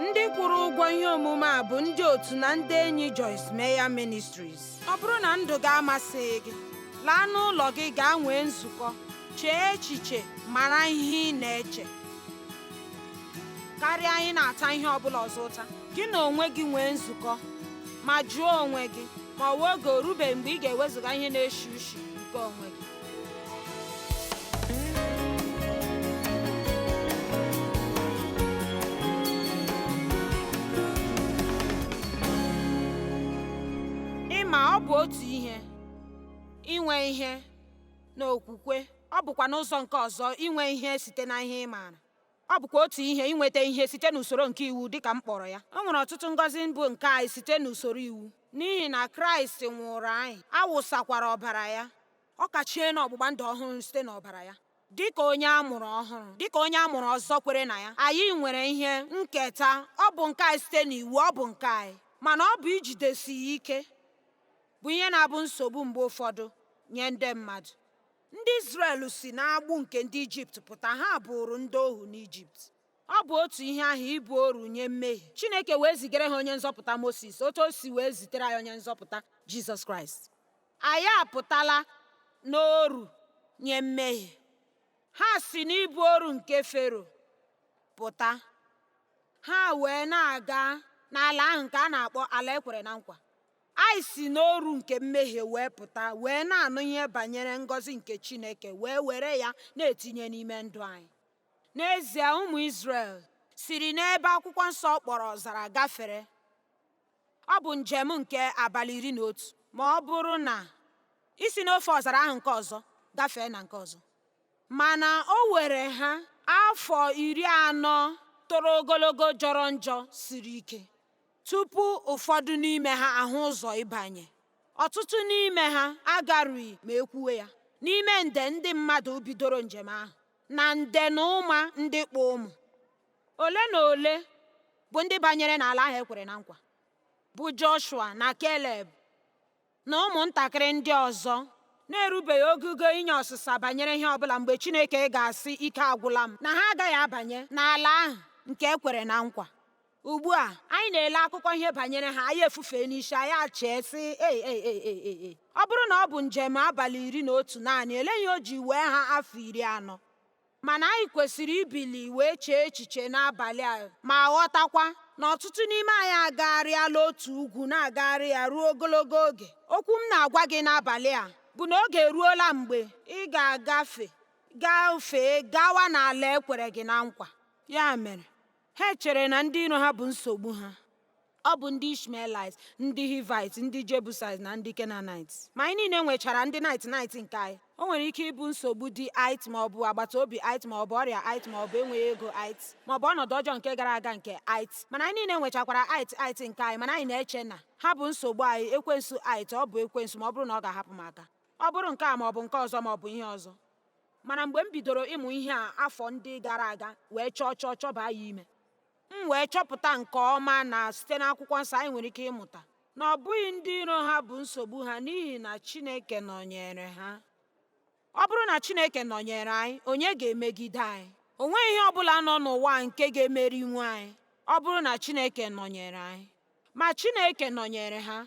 ndị kwụrụ ụgwọ ihe omume a bụ ndị otu na ndị enyi Joyce Meyer Ministries ọ bụrụ na ndụ gị amasịghị gị laa n'ụlọ gị gaa nwee nzukọ chee echiche mara ihe ị na-eche karịa anyị na-ata ihe ọ bụla ọzọ ụta gị na onwe gị nwee nzukọ ma jụọ onwe gị ma ọ bụ oge o rubeghị mgbe ị ga-ewezụga ihe na-eshi ushi nke onwe gị ịma ọ bụ otu ihe inwe ihe n'okwukwe ọ bụkwa n'ụzọ nke ọzọ inwe ihe site na ihe ị maara Ọ bụkwa otu ihe inweta ihe site n'usoro nke iwu dị ka m kpọrọ ya. O nwere ọtụtụ ngọzi bụ nke anyị site n'usoro iwu, n'ihi na Kraịst nwụụrụ anyị, a wụsakwara ọbara ya. Ọ kachie n'ọgbụgba ndụ ọhụrụ site n'ọbara ya. Dị ka onye a mụrụ ọhụrụ, dị ka onye a mụrụ ọzọ kwere na ya, anyị nwere ihe nketa, ọ bụ nke anyị site n'iwu, ọ bụ nke anyị. Mana ọ bụ ijidesi ya ike bụ ihe na-abụ nsogbu mgbe ụfọdụ nye ndị mmadụ. Ndị Izrel si n'agbụ nke ndị Ijipt pụta, ha bụụrụ ndị ohu n'Ijipt. Ọ bụ otu ihe ahụ ịbụ oru nye mmehie. Chineke wee zigara ha onye nzọpụta Mosis otu o si wee zitere anyị onye nzọpụta Jizọs Kraịst. Anyị apụtala n'oru nye mmehie. Ha si n'ịbụ oru nke Fero pụta, ha wee na-aga n'ala ahụ nke a na-akpọ ala e kwere na nkwa. Anyị si n'oru nke mmehie wee pụta wee na-anụ ihe banyere ngọzi nke Chineke wee were ya na-etinye n'ime ndụ anyị. N'ezie ụmụ Izrel siri n'ebe akwụkwọ nsọ kpọrọ ọzara gafere. Ọ bụ njem nke abalị iri na otu ma ọ bụrụ na i si n'ofe ọzara ahụ nke ọzọ gafee na nke ọzọ. Mana o were ha afọ iri anọ toro ogologo jọrọ njọ siri ike. Tupu ụfọdụ n'ime ha ahụ ụzọ ịbanye, ọtụtụ n'ime ha agarughị ma e kwuwe ya n'ime nde ndị mmadụ bidoro njem ahụ na nde na ụma ndị kpụ ụmụ. Ole na ole bụ ndị banyere n'ala ahụ e kwere na nkwa, bụ Joshua na Keleb, na ụmụntakịrị ndị ọzọ na-erubeghị ogugo inye ọsịsa banyere ihe ọ bụla mgbe Chineke ga-asị ike agwụla m na ha agaghị abanye n'ala ahụ nke e kwere na nkwa ugbu a anyị na-ele akụkọ ihe banyere ha anyị efufee n'isi anyị achee sị ei ei ei ei ei ei ọ bụrụ na ọ bụ njem abalị iri na otu naanị elee ihe o ji wee ha afọ iri anọ Mana anyị kwesịrị ibili wee chee echiche n'abalị a ma ghọtakwa na ọtụtụ n'ime anyị agagharịala otu ugwu na-agagharị ya ruo ogologo oge. Okwu m na-agwa gị n'abalị a bụ na oge eruola mgbe ị ga-agafe gafee gawa n'ala e kwere gị na nkwa. Ya mere, ha chere na ndị iro ha bụ nsogbu ha. Ọ bụ ndị Ishmaelites, ndị Hivite, ndị Jebusites, na ndị Kenanite. Ma anyị niile nwechara ndị nit nit nke anyị. O nwere ike ịbụ nsogbu di it ma ọ bụ agbata obi it ma ọ bụ ọrịa it ma ọ bụ enweghị ego it ma ọ bụ ọnọdụ ọjọọ nke gara aga nke it. Mana anyị niile nwechakwara it it nke anyị mana anyị na-eche na ha bụ nsogbu anyị ekwensu it ọ bụ ekwensu ma ọ bụrụ na ọ ga-ahapụ m aka. Ọ bụrụ nke a ma ọ bụ nke ọzọ ma ọ bụ ihe ọzọ. Mana mgbe m bidoro ịmụ ihe a afọ ndị gara aga wee chọọ chọọ chọbaa ya ime. M wee chọpụta nke ọma na site n'Akwụkwọ Nsọ anyị nwere ike ịmụta na ọ bụghị ndị iro ha bụ nsogbu ha n'ihi na Chineke nọnyere ha. Ọ bụrụ na Chineke nọnyere anyị, onye ga-emegide anyị? O nweghị ihe ọ bụla nọ n'ụwa nke ga-emerinwu anyị ọ bụrụ na Chineke nọnyere anyị. Ma Chineke nọnyere ha.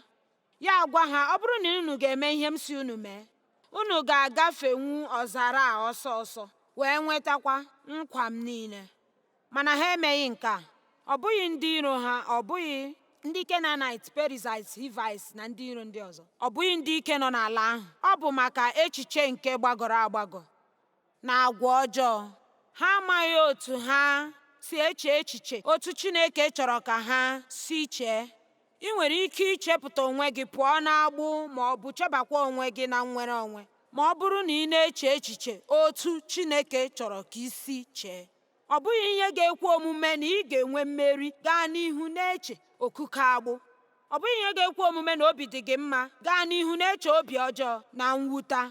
Ya agwa ha, ọ bụrụ na unu ga-eme ihe m sị unu mee, unu ga-agafenwu ọzara a ọsọ ọsọ wee nwetakwa nkwa m niile. Mana ha emeghị nke a. Ọ bụghị ndị iro ha, ọ bụghị ndị Kenaanit, Perizait, Hivait na ndị iro ndị ọzọ, ọ bụghị ndị ike nọ n'ala ahụ. Ọ bụ maka echiche nke gbagọrọ agbagọ na agwa ọjọọ. Ha amaghị otu ha si eche echiche otu Chineke chọrọ ka ha si chee. I nwere ike ichepụta onwe gị pụọ n'agbụ ma ọ bụ chebakwa onwe gị na nnwere onwe ma ọ bụrụ na ị na-eche echiche otu Chineke chọrọ ka i si chee. Ọ bụghị ihe ga-ekwe omume na ị ga-enwe mmeri gaa n'ihu na-eche okike agbụ. Ọ bụghị ihe ga-ekwe omume na obi dị gị mma gaa n'ihu na-eche obi ọjọọ na mwuta.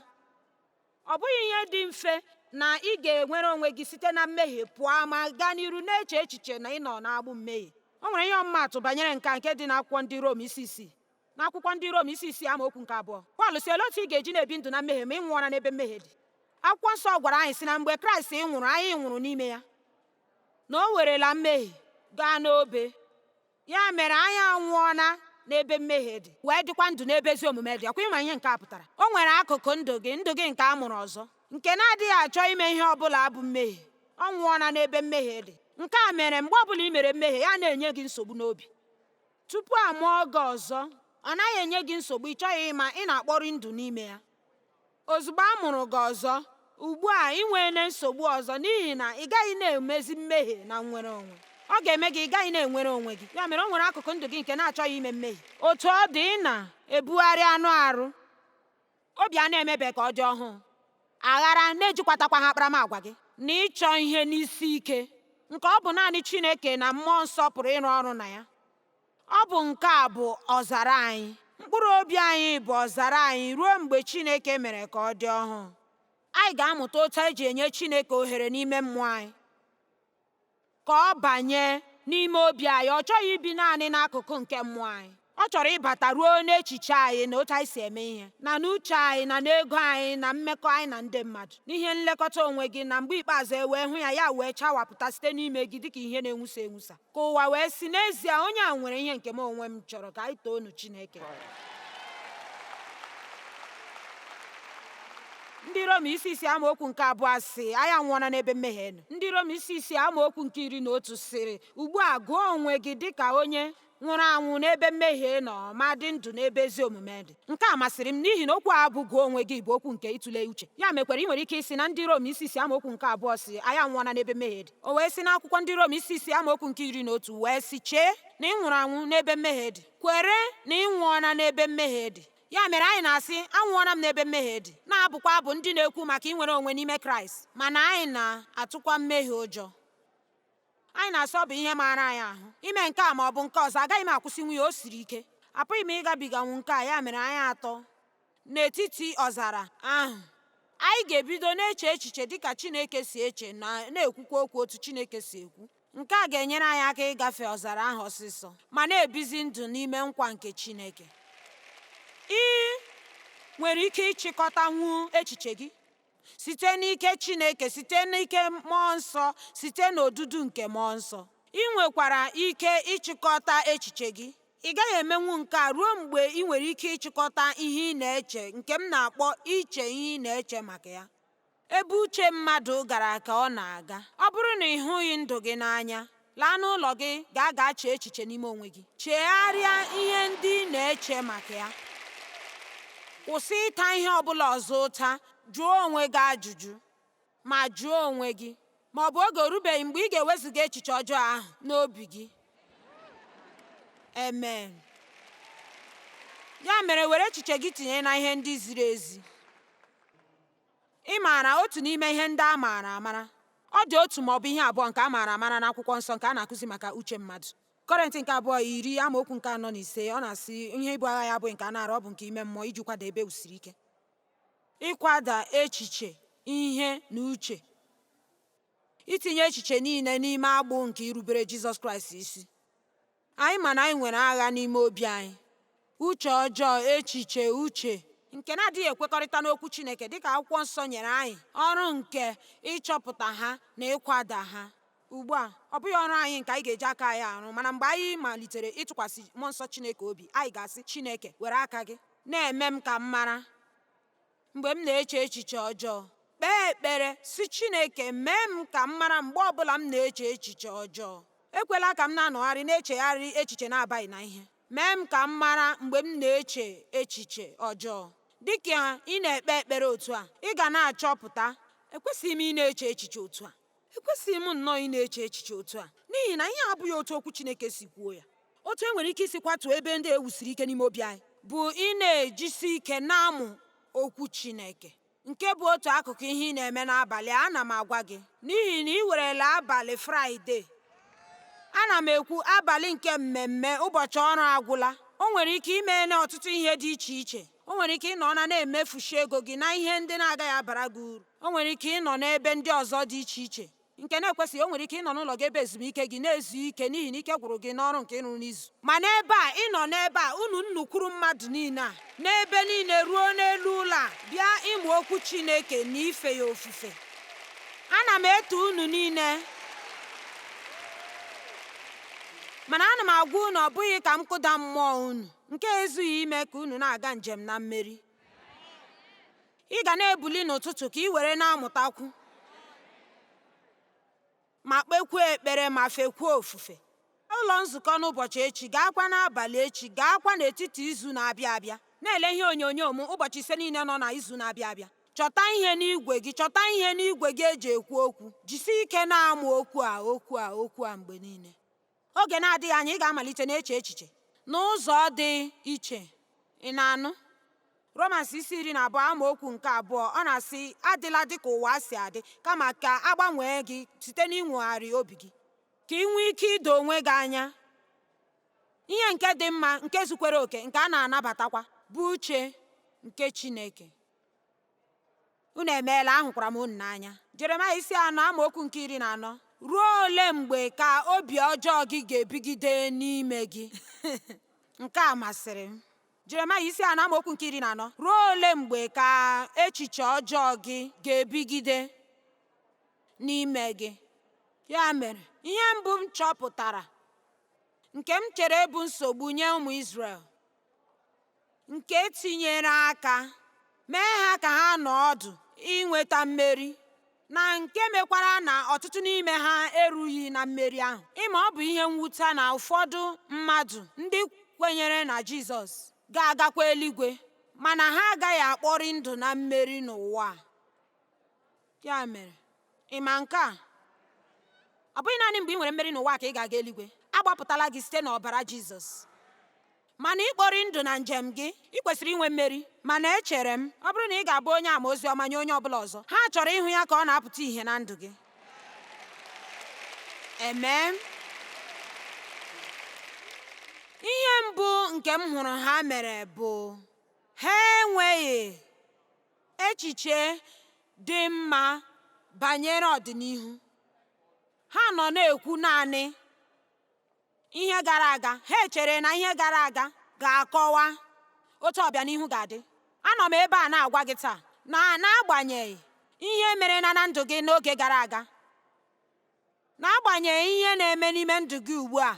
Ọ bụghị ihe dị mfe na ị ga-enwere onwe gị site na mmehie pụọ ma gaa n'iru na-eche echiche na ị nọ n'agbụ mmehie. O nwere ihe ọmụmaatụ banyere nke a nke dị n'akwụkwọ ndị Rom isi isii. N'akwụkwọ ndị Rom isi isii amaokwu nke abụọ, Pọl sị olee otu ị ga-eji na-ebi ndụ na mmehie ma ị nwụọna n'ebe mmehie dị? Akwụkwọ nsọ gwara anyị sị na mgbe Kraịst nwụrụ anyị nwụrụ n'ime ya na o werela mmehie gaa n'obe. Ya mere anyị anwụọna n'ebe mmehie dị wee dịkwa ndụ n'ebe ezi omume dị ọ kwa ị ma ihe nke a pụtara o nwere akụkụ ndụ gị ndụ gị nke a mụrụ ọzọ nke na-adịghị achọ ime ihe ọ bụla bụ mmehie ọ nwụọna n'ebe mmehie dị nke a mere mgbe ọbụla i mere mmehie ya na-enye gị nsogbu n'obi tupu a mụọ gị ọzọ ọ naghị enye gị nsogbu ị chọghị ịma ị na-akpọrị ndụ n'ime ya Ozugbo a mụrụ gị ọzọ, ugbu a i nweela nsogbu ọzọ n'ihi na ị gaghị na-emezi mmehie na nnwere onwe. Ọ ga-eme gị ị gaghị na-enwere onwe gị. Ya mere o nwere akụkụ ndụ gị nke na-achọghị ime mmehie. Otu ọ dị, ị na-ebugharị anụ arụ, obi a na-emebe ka ọ dị ọhụụ, aghara na-ejikwatakwaghị akparamagwa gị, na ịchọ ihe n'isi ike, nke ọ bụ naanị Chineke na mmụọ nsọ pụrụ ịrụ ọrụ na ya. Ọ bụ nke a bụ ọzara anyị. Mkpụrụ obi anyị bụ ọzara anyị ruo mgbe Chineke mere ka ọ dị ọhụụ. Anyị ga-amụta otu e ji enye Chineke ohere n'ime mmụọ anyị ka ọ banye n'ime obi anyị. Ọ chọghị ibi naanị n'akụkụ nke mmụọ anyị. Ọ chọrọ ịbata ruo n'echiche anyị na otu anyị si eme ihe na n'uche anyị na n'ego anyị na mmekọ anyị na ndị mmadụ n'ihe nlekọta onwe gị na mgbe ikpeazụ e wee hụ ya ya wee chawapụta site n'ime gị dịka ihe na-enwusa enwusa. Ka ụwa wee sị n'ezie onye a nwere ihe nke m onwe m chọrọ ka anyị toonụ Chineke. Ndị Rom isi isii amaokwu nke abụọ sị anyị anwụọna n'ebe mmehie nọ Ndị Rom isi isii amaokwu nke iri na otu sịrị ugbu a gụọ onwe gị dịka onye nwụrụ anwụ n'ebe mmehie nọ ma dị ndụ n'ebe ezi omume dị nke a masịrị m n'ihi na okwu a bụ gụọ onwe gị bụ okwu nke ịtụle uche ya mekwara i nwere ike ịsị na Ndị Rom isi isii amaokwu nke abụọ sị anyị anwụọna n'ebe mmehie dị O wee si n'akwụkwọ ndị Rom isi isii amaokwu nke iri na otu wee sị chee na ị nwụrụ anwụ n'ebe mmehie dị kwere na ị nwụọna n'ebe mmehie dị ya mere anyị na-asị anwụọna m n'ebe mmehie dị na-abụkwa abụ ndị na-ekwu maka inwere onwe n'ime Kraịst mana anyị na-atụkwa mmehie ụjọ anyị na-asị ọ bụ ihe maara anyị ahụ ime nke a ma ọ bụ nke ọzọ agaghị m akwụsịnwu ya o siri ike apụghị m ịgabiganwu nke a ya mere anyị atọ n'etiti ọzara ahụ anyị ga-ebido na-eche echiche dịka Chineke si eche na na-ekwukwa okwu otu Chineke si ekwu nke a ga-enyere anyị aka ịgafe ọzara ahụ ọsịsọ ma na-ebizi ndụ n'ime nkwa nke Chineke i nwere ike ịchịkọtanwu echiche gị site n'ike Chineke site n'ike mmụọ nsọ site n'odudu nke mmụọ nsọ i nwekwara ike ịchịkọta echiche gị ị gaghị emenwu nke a ruo mgbe i nwere ike ịchịkọta ihe ị na-eche nke m na-akpọ iche ihe ị na-eche maka ya ebe uche mmadụ gara ka ọ na-aga ọ bụrụ na ị hụghị ndụ gị n'anya Laa n'ụlọ gị gaa gaa chee echiche n'ime onwe gị. Chegharịa ihe ndị ị na-eche maka ya. Kwụsị ịta ihe ọ bụla ọzọ ụta. Jụọ onwe gị ajụjụ. Ma jụọ onwe gị ma ọ bụ oge orubeghị mgbe ị ga-ewezuga echiche ọjọọ ahụ n'obi gị. Amen. Ya mere were echiche gị tinye na ihe ndị ziri ezi. Ị maara otu n'ime ihe ndị a maara amara? Ọ dị otu ma ọ bụ ihe abụọ nke a maara amara n'Akwụkwọ Nsọ nke a na-akụzi maka uche mmadụ. Kọrịnt nke abụọ iri amaokwu nke anọ na ise ọ na-asị ihe ibu agha ya abụghị nke anụ arụ ọ bụ nke ime mmụọ iji kwada ebe e wusiri ike ịkwada echiche ihe na uche itinye echiche niile n'ime agbụ nke irubere Jizọs Kraịst isi Anyị ma na anyị nwere agha n'ime obi anyị, uche ọjọọ, echiche, uche nke na-adịghị ekwekọrịta n'okwu Chineke dịka akwụkwọ nsọ nyere anyị ọrụ nke ịchọpụta ha na ịkwada ha. Ugbu a, ọ bụghị ọrụ anyị nke anyị ga-eji aka anyị arụ, mana mgbe anyị malitere ịtụkwasị mmụọ nsọ Chineke obi, anyị ga-asị Chineke, were aka gị na-eme m ka m mara Mgbe m na-eche echiche ọjọọ, kpee ekpere sị Chineke mee m ka m mara mgbe ọ bụla m na-eche echiche ọjọọ. Ekwela ka m na-anọgharị na-echegharị echiche na-abaghị na ihe. Mee m ka m mara mgbe m na-eche echiche ọjọọ. Dị ka ị na-ekpe ekpere otu a, ị ga na-achọpụta, Ekwesịghị m ịna-eche echiche otu a. Ekwesịghị m nnọọ ịna-eche echiche otu a, n'ihi na ihe a abụghị otu Okwu Chineke si kwuo ya. Otu e nwere ike isi kwatuo ebe ndị e wusiri ike n'ime obi anyị bụ ịna-ejisi ike na-amụ Okwu Chineke, nke bụ otu akụkụ ihe ị na-eme n'abalị a, ana m agwa gị, n'ihi na i werela abalị Fraịde, ana m ekwu abalị nke mmemme ụbọchị ọrụ agwụla, o nwere ike ime ọtụtụ ihe dị iche iche. O nwere ike ịnọ na na-emefushi ego gị na ihe ndị na-agaghị abara gị uru. O nwere ike ịnọ n'ebe ndị ọzọ dị iche iche nke na-ekwesịghị. O nwere ike ịnọ n'ụlọ gị ebe ezumike gị na-ezu ike n'ihi na ike gwụrụ gị n'ọrụ nke ị rụ n'izu. Ma n'ebe a, ị nọ n'ebe a, unu nnukwuru mmadụ niile a, n'ebe niile ruo n'elu ụlọ a, bịa ịmụ okwu Chineke na ife ya ofufe. Ana m eto unu niile. Mana ana m agwa unu ọ bụghị ka m kụda mmụọ unu. Nke a ezughị ime ka unu na-aga njem na mmeri. Ị ga na-ebuli n'ụtụtụ ka i were na-amụtakwu ma kpekwuo ekpere ma fekwuo ofufe. Ụlọ nzukọ n'ụbọchị echi gaakwa n'abalị echi gaakwa n'etiti izu na-abịa abịa. Na-ele ihe onyonyo m ụbọchị ise niile nọ na izu na-abịa abịa. Chọta ihe n'igwe gị chọta ihe n'igwe gị e ji ekwu okwu. Jisie ike na-amụ okwu a okwu a okwu a mgbe niile. Oge na-adịghị anya ị ga-amalite na-eche echiche n'ụzọ dị iche. Ị na-anụ? Romans isi iri na abụọ amaokwu nke abụọ ọ na-asị adịla dị ka ụwa si adị kama ka a gbanwee gị site n'inwogharị obi gị ka i nwee ike ido onwe gị anya ihe nke dị mma nke zukwere oke nke a na-anabatakwa bụ uche nke Chineke. unu emeela ahụkwara m unu n'anya jeremaya isi anọ amaokwu nke iri na anọ ruo ole mgbe ka obi ọjọọ gị ga-ebigide n'ime gị nke a masịrị m jeremaya isi anọ amaokwu nke iri na anọ ruo ole mgbe ka echiche ọjọọ gị ga-ebigide n'ime gị ya mere ihe mbụ m chọpụtara nke m chere bụ nsogbu nye ụmụ Izrel nke tinyere aka mee ha ka ha nọ ọdụ inweta mmeri na nke mekwara na ọtụtụ n'ime ha erughị na mmeri ahụ ị ma ọ bụ ihe mwute na ụfọdụ mmadụ ndị kwenyere na Jizọs ga-agakwa eluigwe mana ha agaghị akpori ndụ na mmeri n'ụwa a ya mere Ị ma nke a? Ọ bụghị naanị mgbe i nwere mmeri n'ụwa a ka ị ga-aga eluigwe. A gbapụtala gị site n'ọbara Jizọs. Mana ịkpori ndụ na njem gị, i kwesịrị inwe mmeri. Mana echere m, ọ bụrụ na ị ga-abụ onye ama ozi ọma nye onye ọ bụla ọzọ, ha chọrọ ịhụ ya ka ọ na-apụta ihe na ndụ gị. Amen. Ihe mbụ nke m hụrụ ha mere bụ ha enweghị echiche dị mma banyere ọdịnihu. Ha nọ na-ekwu naanị ihe gara aga. Ha echere na ihe gara aga ga-akọwa otu ọbịanihu ga-adị. Anọ m ebe a na-agwa gị taa na n'agbanyeghị ihe mere na na ndụ gị n'oge gara aga, N'agbanyeghị ihe na-eme n'ime ndụ gị ugbu a,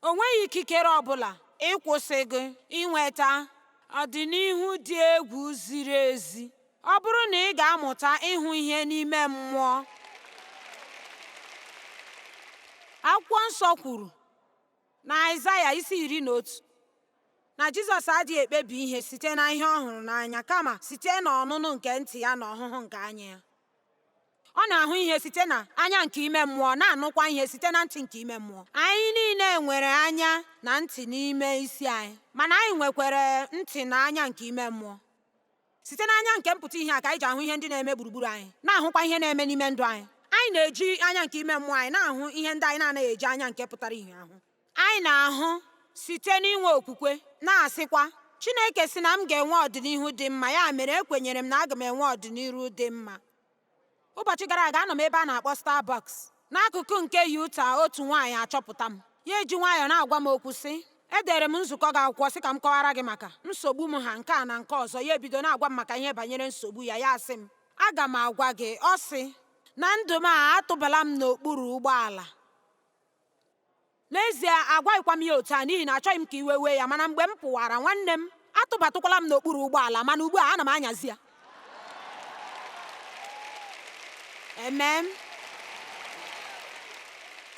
o nweghị ikikere ọ bụla ịkwụsị gị inweta ọdịnihu dị egwu ziri ezi ọ bụrụ na ị ga-amụta ịhụ ihe n'ime mmụọ. Akwụkwọ nsọ kwuru na Aịzaya isi iri na otu na Jizọs adịghị ekpebi ihe site na ihe ọ hụrụ n'anya kama site n'ọnụnụ nke ntị ya na ọhụhụ nke anya ya. ọ na-ahụ ihe site na anya nke ime mmụọ na-anụkwa ihe site na ntị nke ime mmụọ anyị niile nwere anya na ntị n'ime isi anyị mana anyị nwekwara ntị na anya nke ime mmụọ site n'anya nke mpụta ihe a ka anyị ji ahụ ihe ndị na-eme gburugburu anyị na-ahụkwa ihe na-eme n'ime ndụ anyị anyị na-eji anya nke ime mmụọ anyị na-ahụ ihe ndị anyị na-anaghị eji anya nke pụtara ihe ahụ Anyị na-ahụ site n'inwe okwukwe, na-asịkwa, Chineke sị na m ga-enwe ọdịnihu dị mma, ya mere ekwenyere m na aga m enwe ọdịnihu dị mma. Ụbọchị gara aga anọ m ebe a na-akpọ Starbucks n'akụkụ nke Utah otu nwaanyị achọpụta m ya eji nwayọọ na-agwa m okwu sị edere m nzukọ gị akwụkwọ sị ka m kọwara gị maka nsogbu m ha nke a na nke ọzọ ya ebido na-agwa m maka ihe banyere nsogbu ya ya asị m aga m agwa gị ọ sị na ndụ m a atụbala m n'okpuru ụgbọala N'ezie, agwaghịkwa m ya otu a n'ihi na achọghị m ka iwe wee ya, mana mgbe m pụwara, nwanne m, atụbatụkwala m n'okpuru ụgbọala, mana ugbu a ana m anyazi ya. Amen.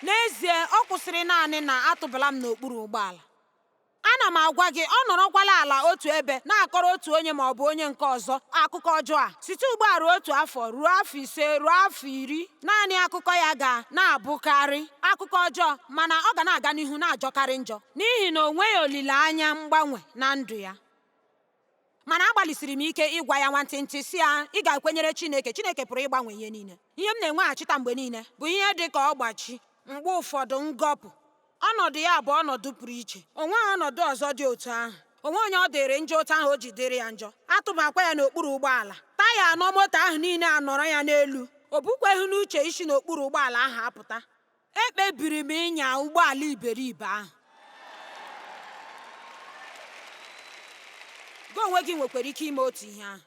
N'ezie, ọ kwụsịrị naanị na atụbala m n'okpuru ụgbọala. Ana m agwa gị, ọ nọrọkwala ala otu ebe na-akọrọ otu onye ma ọ bụ onye nke ọzọ akụkọ ọjọọ a. Site ugbu a ruo otu afọ, ruo afọ ise, ruo afọ iri, naanị akụkọ ya ga na-abụkarị akụkọ ọjọọ, mana ọ ga na-aga n'ihu na-ajọkarị njọ n'ihi na o nweghị olileanya mgbanwe na ndụ ya. Mana agbalịsiri m ike ịgwa ya nwantịntị sị ya, ị ga-ekwenyere Chineke, Chineke pụrụ ịgbanwe ihe niile. Ihe m na-enweghachita mgbe niile bụ ihe dị ka ọgbachi, mgbe ụfọdụ ngọpụ. Ọnọdụ ya bụ ọnọdụ pụrụ iche. O nweghị ọnọdụ ọzọ dị otu ahụ. O nweghị onye ọ dịrị njọ otu ahụ o ji dịrị ya njọ. A tụbakwa ya n'okpuru ụgbọala. Taya anọ moto ahụ niile anọrọ ya n'elu. O bukweghị n'uche isi n'okpuru ụgbọala ahụ apụta. ekpebiri m ịnya ụgbọala iberibe ahụ gị onwe gị nwekwara ike ime otu ihe ahụ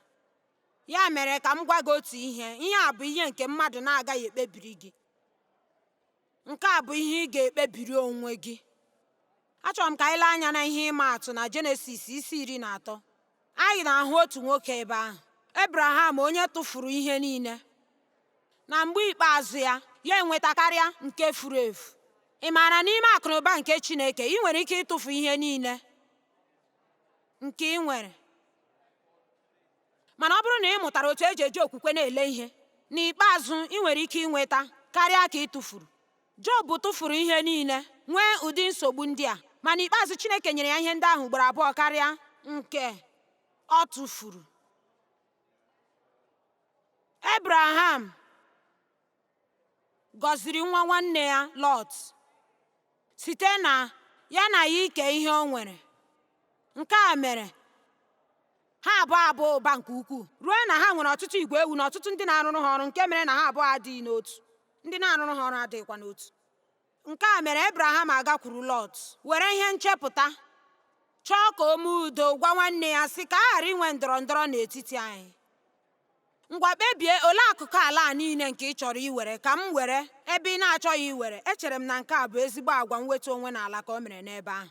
ya mere ka m gwa gị otu ihe ihe a bụ ihe nke mmadụ na-agaghị ekpebiri gị nke a bụ ihe ị ga-ekpebiri onwe gị achọrọ m ka anyị lee anya na ihe ịma atụ na jenesis isi iri na atọ Anyị na-ahụ otu nwoke ebe ahụ, Abraham onye tụfuru ihe niile, na mgbe ikpeazụ ya, ya enweta karịa nke furu efu. Ị maara n'ime akụnụba nke Chineke, i nwere ike ịtụfu ihe niile nke i nwere. Mana ọ bụrụ na ị mụtara otu e ji eji okwukwe na-ele ihe, n'ikpeazụ i nwere ike inweta karịa ka ị tụfuru. Job tụfuru ihe niile, nwee ụdị nsogbu ndị a, ma n'ikpeazụ Chineke nyere ya ihe ndị ahụ ugboro abụọ karịa nke ọ tụfuru. Ebraham gọziri nwa nwanne ya Lọt site na ya na ya ike ihe o nwere. Nke a mere ha abụọ abaa ụba nke ukwuu ruo na ha nwere ọtụtụ igwe ewu na ọtụtụ ndị na-arụrụ ha ọrụ nke mere na ha abụọ adịghị n'otu ndị na-arụrụ ha ọrụ adịghịkwa n'otu nke a mere ebraham agakwuru lọt were ihe nchepụta chọọ ka o mee udo gwa nwanne ya sị ka a ghara inwe ndọrọ ndọrọ n'etiti anyị ngwa kpebie olee akụkụ ala a niile nke ị chọrọ iwere ka m were ebe ị na-achọghị iwere echere m na nke a bụ ezigbo agwa mwetu onwe n'ala ka o mere n'ebe ahụ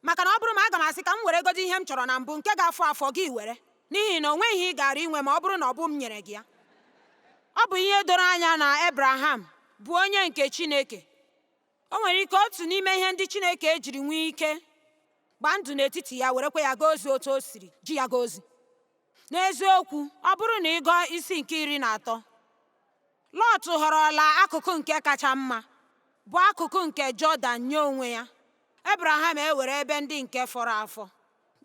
Maka na ọ bụrụ ma aga m asị ka m were godi ihe m chọrọ na mbụ nke ga-afọ afọ gị were n'ihi na o nweghị ihe ị gaara inwe ma ọ bụrụ na ọ bụ m nyere gị ya ọ bụ ihe doro anya na Abraham bụ onye nke Chineke o nwere ike otu n'ime ihe ndị Chineke ejiri nwee ike gbaa ndụ n'etiti ya werekwa ya gaa ozi otu o siri ji ya gaa ozi n'eziokwu ọ bụrụ na ị gụọ isi nke iri na atọ Lọt họrọla akụkụ nke kacha mma bụ akụkụ nke Jọdan nye onwe ya Abraham ewere ebe ndị nke fọrọ afọ,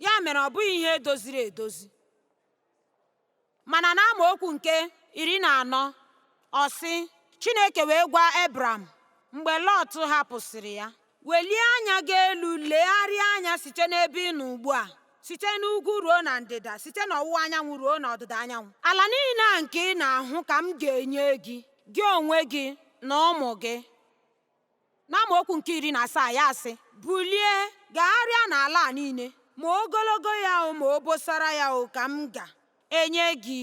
ya mere ọ bụghị ihe doziri edozi. Mana n'amaokwu nke iri na anọ, ọ sị, Chineke wee gwa Abram mgbe Lọt hapụsịrị ya, welie anya gị elu legharịa anya site n'ebe ị nọ ugbu a site n'ugwu ruo na ndịda site n'ọwụwa anyanwụ ruo n'ọdịda anyanwụ ala niile a nke ị na-ahụ ka m ga-enye gị gị onwe gị na ụmụ gị N'amaokwu nke iri na asaa ya asị, Bulie, gagharịa n'ala a niile, ma ogologo ya o ma obosara ya o ka m ga-enye gị.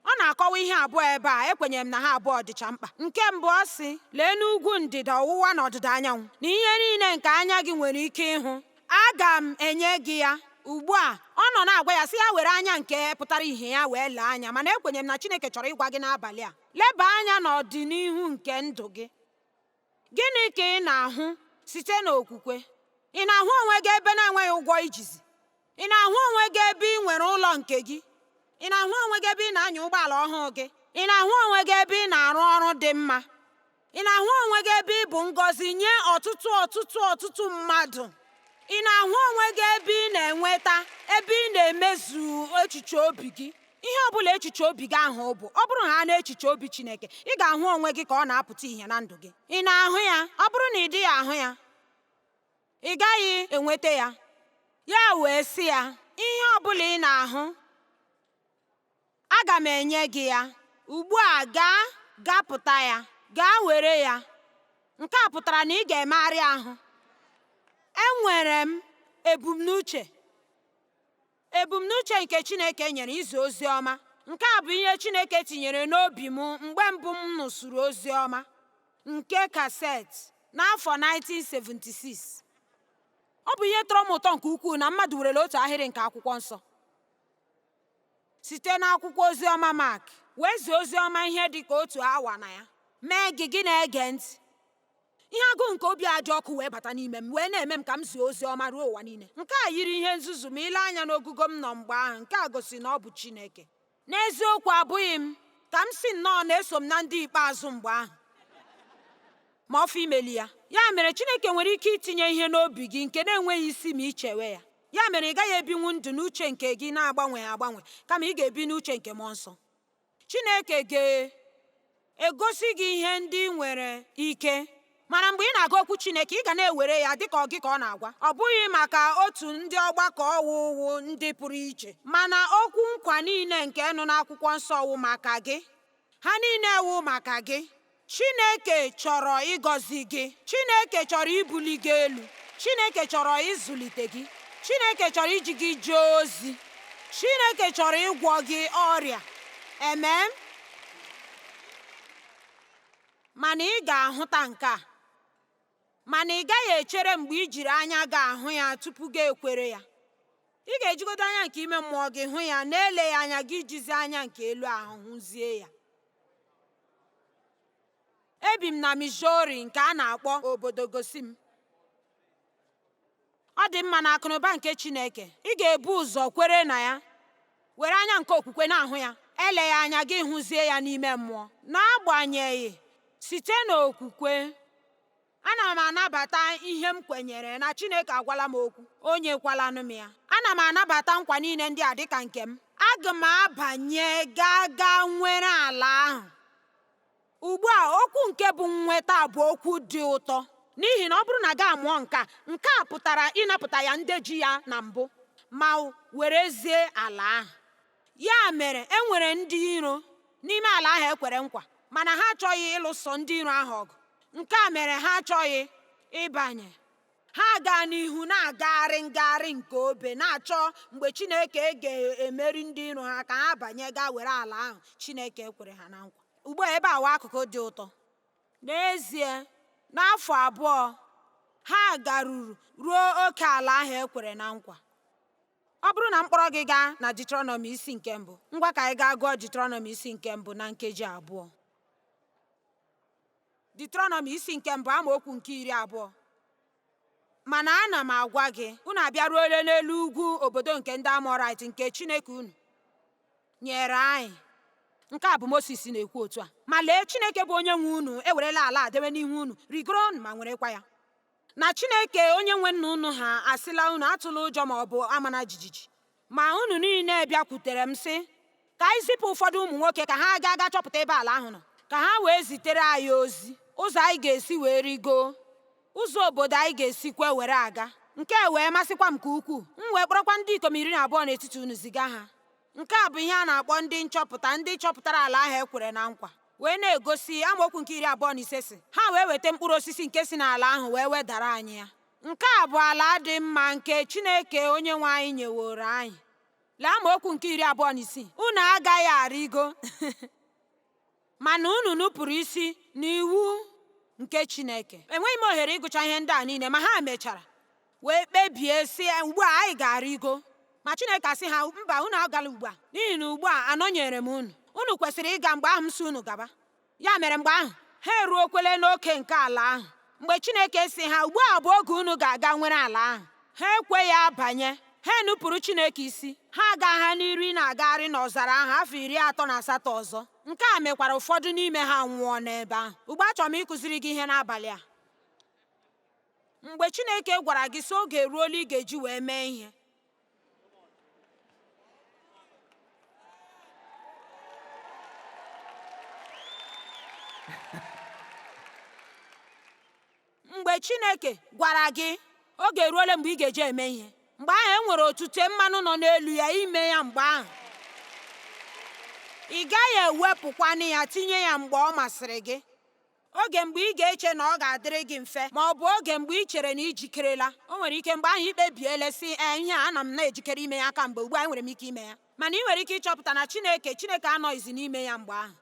Ọ na-akọwa ihe abụọ ebe a, ekwenyere m na ha abụọ dịcha mkpa. Nke mbụ ọ sị, Lee n'ugwu ndịda ọwụwa na ọdịda anyanwụ, na ihe niile nke anya gị nwere ike ịhụ, aga m enye gị ya. Ugbu a, ọ nọ na-agwa ya sị ya were anya nke pụtara ihe ya wee lee anya, mana ekwenyere m na Chineke chọrọ ịgwa gị n'abalị a, leba anya n'ọdịnihu nke ndụ gị. Gịnị ka ị na-ahụ site n'okwukwe? Ị na-ahụ onwe gị ebe na-enweghị ụgwọ i jizi? Ị na-ahụ onwe gị ebe ị nwere ụlọ nke gị? Ị na-ahụ onwe gị ebe ị na-anya ụgbọala ọhụụ gị? Ị na-ahụ onwe gị ebe ị na-arụ ọrụ dị mma? Ị na-ahụ onwe gị ebe ị bụ ngọzi nye ọtụtụ ọtụtụ ọtụtụ mmadụ? Ị na-ahụ onwe gị ebe ị na-enweta ebe ị na-emezu echiche obi gị? Ihe ọ bụla echiche obi gị ahụ bụ, ọ bụrụ ha n'echiche obi Chineke, ị ga-ahụ onwe gị ka ọ na-apụta ihe na ndụ gị. Ị na-ahụ ya? Ọ bụrụ na ị dịghị ahụ ya, ị gaghị enweta ya. Ya wee sị ya, Ihe ọ bụla ị na-ahụ, aga m enye gị ya. Ugbu a gaa gapụta ya, gaa were ya. Nke a pụtara na ị ga-emegharị ahụ. Enwere m ebumnuche. Ebumnuche nke Chineke nyere izi ozi ọma. Nke a bụ ihe Chineke tinyere n'obi m mgbe mbụ m nụsụrụ ozi ọma nke cassette n'afọ 1976. Ọ bụ ihe tọrọ m ụtọ nke ukwuu na mmadụ werela otu ahịrị nke Akwụkwọ Nsọ site n'akwụkwọ ozi ọma Mak wee zie ozi ọma ihe dị ka otu awa na ya. Mee gị gị na-ege ntị. Ihe agụụ nke obi a dị ọkụ wee bata n'ime m wee na-eme m ka m zie ozi ọma ruo ụwa niile. Nke a yiri ihe nzuzu ma i lee anya n'ogugo m nọ mgbe ahụ, nke a gosi na ọ bụ Chineke. N'eziokwu, abụghị m, ka m sị nnọọ na eso m na ndị ikpeazụ mgbe ahụ. Ma ọ fọ imeli ya. Ya mere, Chineke nwere ike itinye ihe n'obi gị nke na-enweghị isi ma i chewe ya. Ya mere, ị gaghị ebinwu ndụ n'uche nke gị na-agbanweghị agbanwe, kama ị ga-ebi n'uche nke mmụọ nsọ. Chineke ga-egosi gị ihe ndị ị nwere ike mana mgbe ị na-agụ okwu Chineke ị ga na-ewere ya dịka ọ gị ka ọ na-agwa ọ bụghị maka otu ndị ọgbakọ ahụ wụ ndị pụrụ iche mana okwu nkwa niile nke nọ n'akwụkwọ nsọ wụ maka gị ha niile wụ maka gị Chineke chọrọ ịgọzi gị. Chineke chọrọ ibuli gị elu. Chineke chọrọ ịzụlite gị. Chineke chọrọ iji gị jee ozi. Chineke chọrọ ịgwọ gị ọrịa. Amen. Mana ị ga-ahụta nke a. Mana ị gaghị echere mgbe i jiri anya gị ahụ ya tupu gị ekwere ya. Ị ga-ejigodo anya nke ime mmụọ gị hụ ya n'eleghị anya gị jizi anya nke elu ahụ hụzie ya. ebi m na Missouri nke a na-akpọ obodo gosi m ọ dị mma na akụnụba nke Chineke ị ga-ebu ụzọ kwere na ya were anya nke okwukwe na-ahụ ya eleghị anya gị hụzie ya n'ime mmụọ n'agbanyeghị site n'okwukwe Ana m anabata ihe m kwenyere na Chineke agwala m okwu, o nyekwalanụ m ya. Ana m anabata nkwa niile ndị a dịka nke m. Aga m abanye gaa gaa nwere ala ahụ. Ugbu a, okwu nke bụ nnweta bụ okwu dị ụtọ n'ihi na ọ bụrụ na gị amụọ nke a, nke a pụtara ịnapụta ya ndị ji ya na mbụ ma werezie ala ahụ. Ya mere, e nwere ndị iro n'ime ala ahụ e kwere nkwa, mana ha achọghị ịlụso ndị iro ahụ ọgụ. Nke a mere ha achọghị ịbanye. Ha gaa n'ihu na-agagharị ngagharị nke obe na-achọ mgbe Chineke ga-emeri ndị iro ha ka ha banye gaa were ala ahụ Chineke kwere ha na nkwa. Ugbu a ebe a wụ akụkụ dị ụtọ. N'ezie, n'afọ abụọ, ha garuru ruo oke ala ahụ e kwere na nkwa. Ọ bụrụ na m kpọrọ gị gaa na Deuteronomy isi nke mbụ, ngwa ka anyị gaa gụọ Deuteronomy isi nke mbụ na nkeji abụọ. Deuteronomy isi nke mbụ amaokwu nke iri abụọ mana ana m agwa gị unu abịaruole n'elu ugwu obodo nke ndị Amọrait nke Chineke unu nyere anyị nke a bụ Moses na-ekwu otu a ma lee Chineke bụ onye nwe unu ewerela ala a dewe n'ihu unu rigoro ma nwerekwa ya na Chineke onye nwe nna unu ha asịla unu atụla ụjọ ma ọ bụ amana jijiji ma unu niile bịakwutere m sị ka anyị zipụ ụfọdụ ụmụ nwoke ka ha gaa ga chọpụta ebe ala ahụ nọ ka ha wee zitere anyị ozi ụzọ anyị ga-esi wee rigoo ụzọ obodo anyị ga-esikwa were aga nke a wee masịkwa m nke ukwuu m wee kpọrọkwa ndị ikom iri na abụọ n'etiti unu ziga ha nke a bụ ihe a na-akpọ ndị nchọpụta ndị chọpụtara ala ahụ e kwere na nkwa wee na-egosi amaokwu nke iri abụọ na ise sị ha wee weta mkpụrụ osisi nke si n'ala ahụ wee wedara anyị ya nke a bụ ala dị mma nke Chineke onye nwe anyị nyeworo anyị lee amaokwu nke iri abụọ na isii unu agaghị arịgo mana unu nupụrụ isi n'iwu nke Chineke enweghị m ohere ịgụcha ihe ndị a niile ma ha mechara wee kpebie sị ugbu a anyị ga-arịgo ma Chineke asị ha mba unu agala ugbu a n'ihi na ugbu a anọnyere m unu unu kwesịrị ịga mgbe ahụ m sị unu gaba ya mere mgbe ahụ ha eruokwele n'oke nke ala ahụ mgbe Chineke sị ha ugbu a bụ oge unu ga-aga nwere ala ahụ ha ekweghị abanye ha enupụrụ Chineke isi ha agaa n'iru na-agagharị n'ọzara ahụ afọ iri atọ na asatọ ọzọ nke a mekwara ụfọdụ n'ime ha nwụọ n'ebe ahụ ugbu a achọrọ m ịkụziri gị ihe n'abalị a mgbe chineke gwara gị sị oge eruola ị ga-eji wee mee ihe mgbe chineke gwara gị oge eruola mgbe ị ga-eji eme ihe mgbe ahụ e nwere otute mmanụ nọ n'elu ya ime ya mgbe ahụ ị gaghị ewepụkwanụ ya tinye ya mgbe ọ masịrị gị Oge mgbe ị ga-eche na ọ ga-adịrị gị mfe ma ọ bụ oge mgbe i chere na i jikerela. O nwere ike mgbe ahụ i kpebiela, sị, Ee, ihe a ana m na-ejikere ime ya kamgbe, ugbu a enwere m ike ime ya. Mana i nwere ike ịchọpụta na Chineke Chineke anọghịzi n'ime ya mgbe ahụ.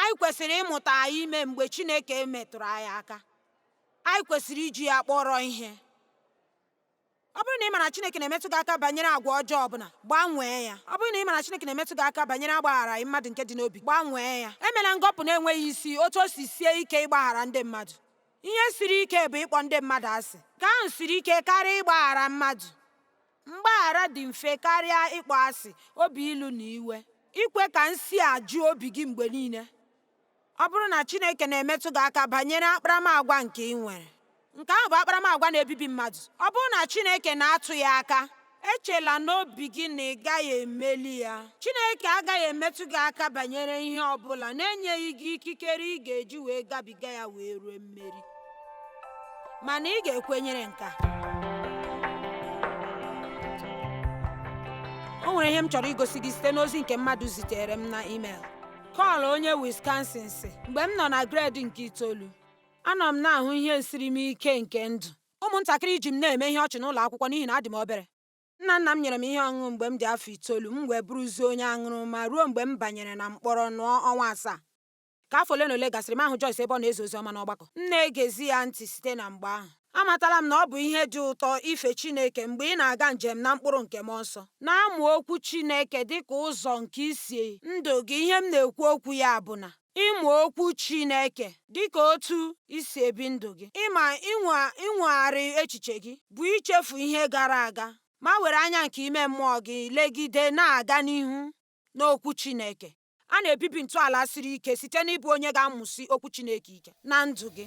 Anyị kwesịrị ịmụta ime mgbe Chineke metụrụ anyị aka. Anyị kwesịrị iji ya kpọrọ ihe. Ọ bụrụ na ị mara Chineke na-emetụ gị aka banyere agwa ọjọọ ọbụla, gbanwee ya. Ọ bụrụ na ị mara Chineke na-emetụ gị aka banyere agbagharaghị mmadụ nke dị n'obi, gbanwee ya. Emela ngọpụ na-enweghị isi otu o si sie ike ịgbaghara ndị mmadụ. Ihe siri ike bụ ịkpọ ndị mmadụ asị. Nke ahụ siri ike karịa ịgbaghara mmadụ. Mgbaghara dị mfe karịa ịkpọ asị, obi ilu na iwe. Ikwe ka nsi a juo obi gị mgbe niile. Ọ bụrụ na Chineke na-emetụ gị aka banyere akparamagwa nke i nwere, nke ahụ bụ akparamagwa na-ebibi mmadụ. Ọ bụrụ na Chineke na-atụ ya aka, echela n'obi gị na ị gaghị emeli ya. Chineke agaghị emetụ gị aka banyere ihe ọ bụla na-enyeghị gị ikikere ị ga-eji wee gabiga ya wee ruo mmeri. Mana ị ga-ekwenyere nke a. O nwere ihe m chọrọ igosi gị site n'ozi nke mmadụ zitere m na email. Kọl onye Wisconsin sị mgbe m nọ na gred nke itoolu anọ m na-ahụ ihe nsiri m ike nke ndụ ụmụntakịrị ji m na-eme ihe ọchị n'ụlọ akwụkwọ n'ihi na adị m obere nna nna m nyere m ihe ọṅụṅụ mgbe m dị afọ itoolu m wee bụrụzie onye aṅụrụma ruo mgbe m banyere na mkpọrọ nọọ ọnwa asaa ka afọ ole na ole gasịrị m ahụ Joyce ebe ọ na-ezi ozi ọma n'ọgbakọ m na-egezi ya ntị site na mgbe ahụ Amatala m na ọ bụ ihe dị ụtọ ife Chineke mgbe ị na-aga njem na mkpụrụ nke Mmụọ Nsọ. Na-amụ Okwu Chineke dị ka ụzọ nke isi ndụ gị. Ihe m na-ekwu okwu ya bụ na ịmụ Okwu Chineke dị ka otu i si ebi ndụ gị, ịma inwegharị echiche gị, bụ ichefu ihe gara aga ma were anya nke ime mmụọ gị legide na-aga n'ihu n'Okwu Chineke. A na-ebibi ntọala siri ike site n'ịbụ onye ga-amụsi Okwu Chineke ike na ndụ gị.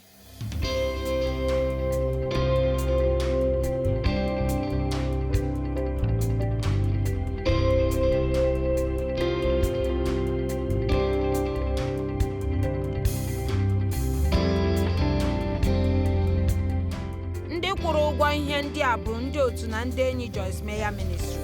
Ndị kwụrụ ụgwọ ihe ndị a bụ ndị otu na ndị enyi Joyce Meyer Ministries.